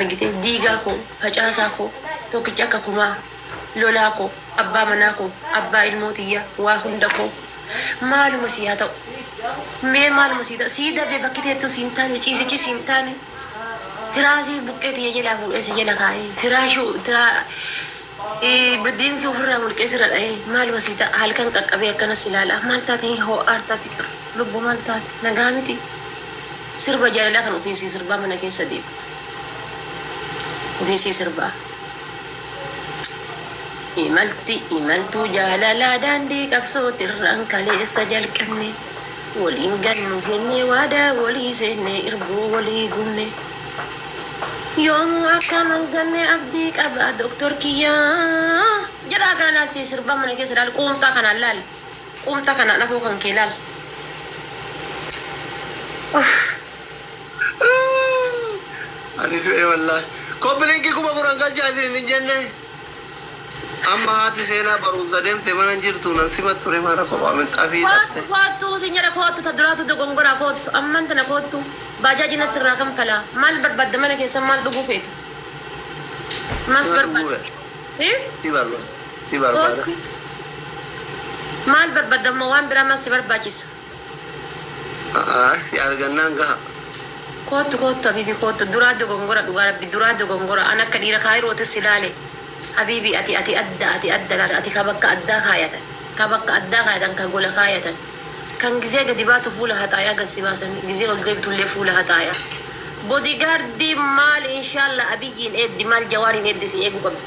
argitee diigaa koo facaasaa koo tokkicha akka kumaa lolaa koo abbaa manaa koo abbaa ilmoo tiyyaa waa hunda koo maaluma sii haa ta'u mee maaluma sii ta'u sii dabee bakki teettu siin taane ciisichi siin taane tiraasii buqqee tiyya jalaa fuudhee si jala kaa'ee firaashuu tiraa Baddiinsi ofirraa mulqee sirra dhahee maaluma sii ta'a halkan qaqqabee akkana si laala maal taate hin hoo'aartaa fiqir lubbu maal taate nagaa miti sirba jaalalaa kan ofii sii sirbaa mana keessa deema ofii sii sirbaa imalti imaltuu jaalalaa daandii qabsootirraan kaleessa jalqabne waliin gannu jennee waadaa walii seennee irbuu walii gubne. Yoomuu akkaan ol gannee abdii qaba doktor kiyyaa. Jedhaa kana laal sii sirbaa mana keessa laal quumxaa kanaan laal. Quumxaa kanaan afoo kan kee laal. Ani du'e wallahi. Koppi linkii kuma kuran galchaa isin hin jenne. Amma haati seenaa baruumsa demte mana hin jirtu nan sima ture maana kophaa minxafii Koottu dhafte. koottu sin jedha koottu ta duraatu dogongoraa koottu amman tana koottu baajaaji na sirraa kanfalaa maal barbaadda mana keessan maal dhuguu feeta maal si Sima dhuguu barbaadda fedha. Hii? Si barbaada. Si barbaada. koottu maal barbaadda amma waan biraa maal si barbaachisa si argannaan gaha. Koottu koottu habibi koottu duraa dogongora dhugaa rabbi duraa dogongora an akka dhiira kaayirootis si laale habibi ati ati adda ati adda laata ati ka bakka addaa kaayatan ka bakka addaa kaayatan ka gola kaayatan kan gizee gadi baatu fuula haxaayaa gad si baasani gizee ol deebitullee fuula haxaayaa body gaardii maal inshaalla abiyyiin eeddi maal jawaariin eeddi si eegu qabdi.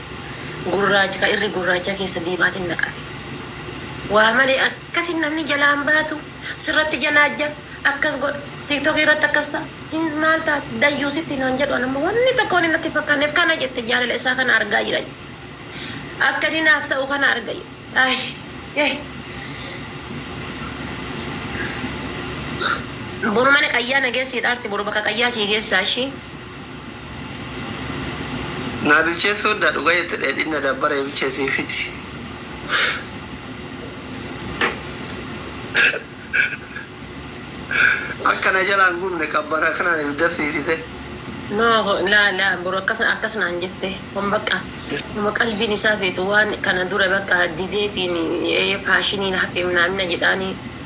gurraacha ka irri gurraachaa keessa diimaatiin naqame. Waa malee akkasi namni jalaa hin baatu, sirratti janaajja, akkas godha, tiktok irratti akkas ta'a, hin maal taate, dayyuusitti naan jedhu an amma wanni tokko wanni natti hin fakkaanneef kana jette jaalala isaa kana argaa jira jette. Akka inni naaf ta'u kana arga jette. Ay, eh. Boru mana qayyaa na geessiidha arti boru bakka qayyaa sii geessaa ishii. Naa bilcheessuu didda dhuga jette dheedhiin na dabbaree bilcheessii fidi Akka na jalaa hin gubne qabbana kanaan ibidda siisite. No laa laa bro akkas akkas naan jette kun bakka nama qalbiin isaa feetu waan kana dura bakka dideetiin ee faashiniin hafe minaamina jedhaanii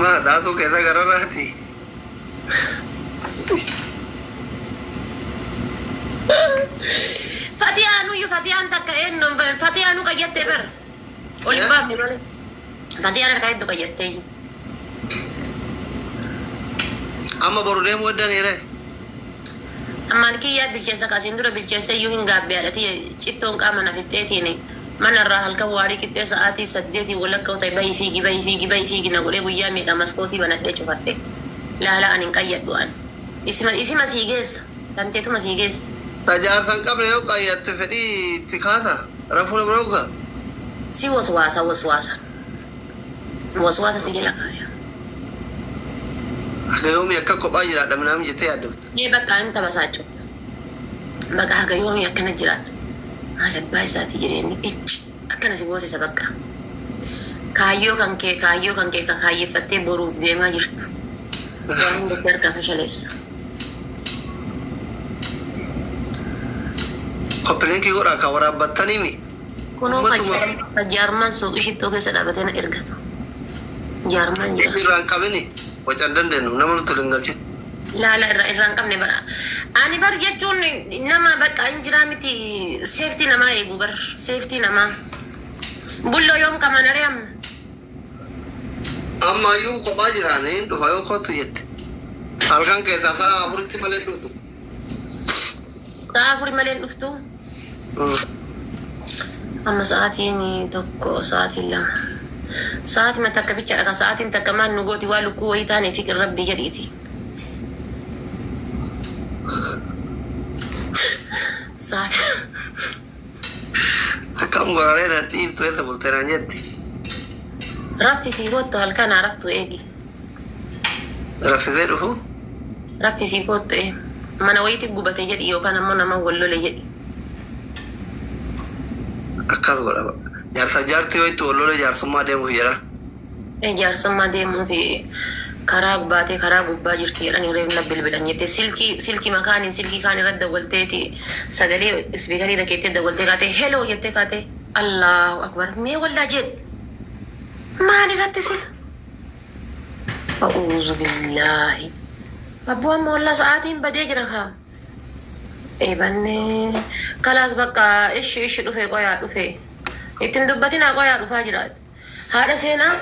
Maa dhaatuu keessa gararraati. Fatiyaa nuyyu fatiyaan takka eenyu fatiyaa nu qayyattee bar. Ol hin baafne malee. Fatiyaan harkaa hedduu qayyattee. Amma boru deemuu eddan hiree. Ammaan kiyyaa bilcheessa kasiin dura bilcheessa iyyuu hin gaabbiyaadha tiyya cittoon qaama na fixxeetiin. Mana irraa halkan waarii qixxee sa'aatii saddeetii walakka u ta'e bahi fiigi bahi fiigi bahi fiigi na godhee guyyaa meeqa maskootii banadhee cufadhe laala an hin qayyadhu an. Isima isima sii geessa tanteetuma sii geessa. Ka jaarsa hin qabne yoo qayyatte fedhii itti kaasa rafuu nama dhogga. Si waswaasa waswaasa waswaasa si jala kaaya. Haga yoomii akka kophaa jiraadha minaamii jettee yaaddofta. Mee baqqaa hin tabasaachofta. Baqa haga yoomi akkana jiraadha maal abbaa isaati jireenni icci akkana si boosisa baqqa kaayyoo kan kee kaayyoo kan kee ka kaayyeffattee boruuf deemaa jirtu waa hunda si harkaa fashaleessa. Koppilinki godhaa kan waraabbattaniimi. Kunoo ka Ummatuma jaarma- ka jaarmaan suuqii shittoo keessa dhaabatee na ergatu jaarmaan jira. irraan qabini wacan dandeenyu nama nutti hin galchin. Laala irra irraa hin qabne bara. Ani bar jechuun nama bakka hin jiraa miti seeftii namaa eegu bar seeftii namaa. Bulloo yoom qamanaree amma. Amma iyyuu kophaa jira niin dhufa yoo kottu jette. Halkan keessaa sa'a afuritti malee hin dhuftu. Sa'a afuri malee hin dhuftu. Amma sa'aatiin tokko sa'aatiin lama. Sa'aatima takka bichadha ka sa'aatiin takka maal nu gooti waa lukkuu wayii taane fiqir rabbii jedhiiti. Sa'aati Akkam gororee na dhiiftu eessa bultee naan jetti. raffisi kottu halkan haa raftu eegi. Raffisee dhufuuf? Raffisii koottu ee. Mana wayiitii gubate jedhi yookaan ammoo nama wal lole jedhi. Akkas godha baqa. Jaarsaaf jaartii yoo itti wal lole jaarsummaa deemuuf jedha? Ee jaarsummaa deemuuf karaa baatee karaa gubbaa jirti jedhanii reef na bilbilan jettee silkii silkima kaaniin silkii kaan irra dawwalteeti sagalee ispiikarii irra keettee dawwaltee kaatee heloo jettee kaatee Allaahu akbar mee wallah jedhi maal irratti sila A'uuzu billaahi. Abboo amma wallah sa'aatiin badee jira kaa. Eebanne. Kalaas bakka ishi ishi dhufee qoyaa dhufee. Ittiin dubbatinaa qoyaa dhufaa jiraati. Haadha seenaa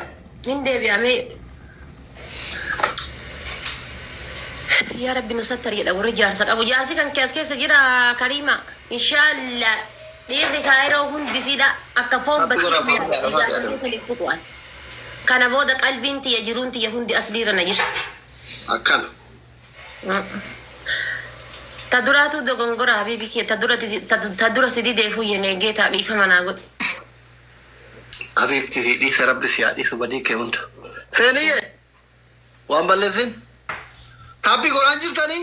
hin deebi'amee. Yaa rabbi nu sattari jedha warri jaarsa qabu. Jaarsi kan kees keessa jira kariima. Inshaalla dhiirri kaayiroo hundi siidha akka foon Rabbi bakkiitti godha, nyaata. foon Jaarsi nyaata. keessa hin tuqu ani. Kana booda qalbiin tiyya jiruun tiyya hundi aslii irra na jirti. Akkana. Ta duraatuu dogongora habiibi kiyya ta dura didi- ta du- ta dura si dideefuu yenee geetaa dhiifama naa godhi. Habiibti sii dhiise rabbi si haa dhiisu badii kee hunda. Seeniye waan balleessin taappi godhaan jirtanii.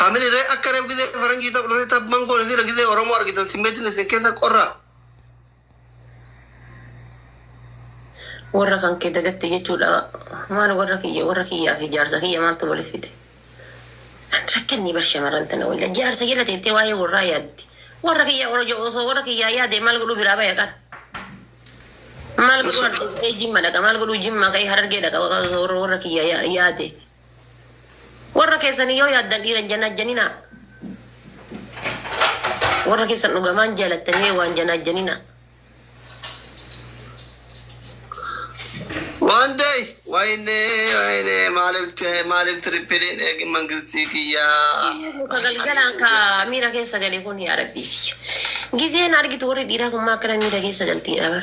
Family ree akka reef gizee faranjii ta'u dhufee tabban goone sila gizee Oromoo argitan simmeetiin isin keessa qorraa. Warra kan kee dagatte jechuudha. Maal warra kiyya warra kiyyaa fi jaarsa kiyya maaltu waliif fide? Rakkanni bar shamarran tana walla jaarsa jala teettee waa'ee warraa yaaddi. Warra kiyya oroja osoo warra kiyyaa yaade maal godhuu biraa baya qan. Maal godhuu Mashallah. arsiisee jimma dhaqa maal godhuu jimma ka'ee harargee dhaqa warra warra kiyya yaade. Warra keessanii yoo yaaddan dhiira hin janaajjaninaa. Warra keessan dhugamaan jaalattanii hee waan janaajjaninaa. One day, wayne, wayne, maaliif ta'e, maaliif tirippiliin eegi mangistii kiyyaa. Ka galgalaan ka miira keessa gale kun yaa rabbii. Gizeen argitu warri dhiiraa kun maa akkana miira keessa galtii dhabar.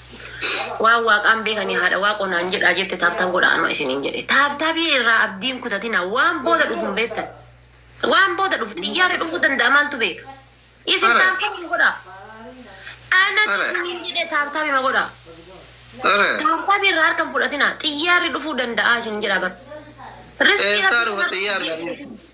Waan waaqaan beekanii haadha waaqoo naan jedhaa jette taabtaab godhaa anoo isiniin jedhe. Taabtaabii irraa abdiin kutatinaa waan booda dhufu hin beektan. Waan booda dhufu xiyyaarri dhufuu danda'a maaltu beeka. Isin Ala. taabtaabima godhaa. Anatu Ala. isiniin jedhe taabtaabima godhaa. Ala. Taabtaabii irraa harka hin fudhatinaa xiyyaarri dhufuu danda'a isiniin jedhaa bar. Riskii Eessaa rabbi dhufa xiyyaarri?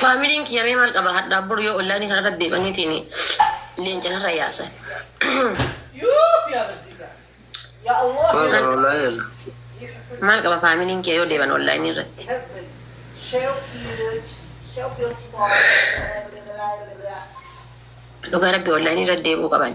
Familiin kiyya mee maal qaba hadhaaf boru yoo online kana irratti deemaniitiin leenca narra yaasan. Maal kana online irra? Maal qaba familiin kiyya yoo deeman online irratti. Dhugaa rabbi online irratti deemuu qaban.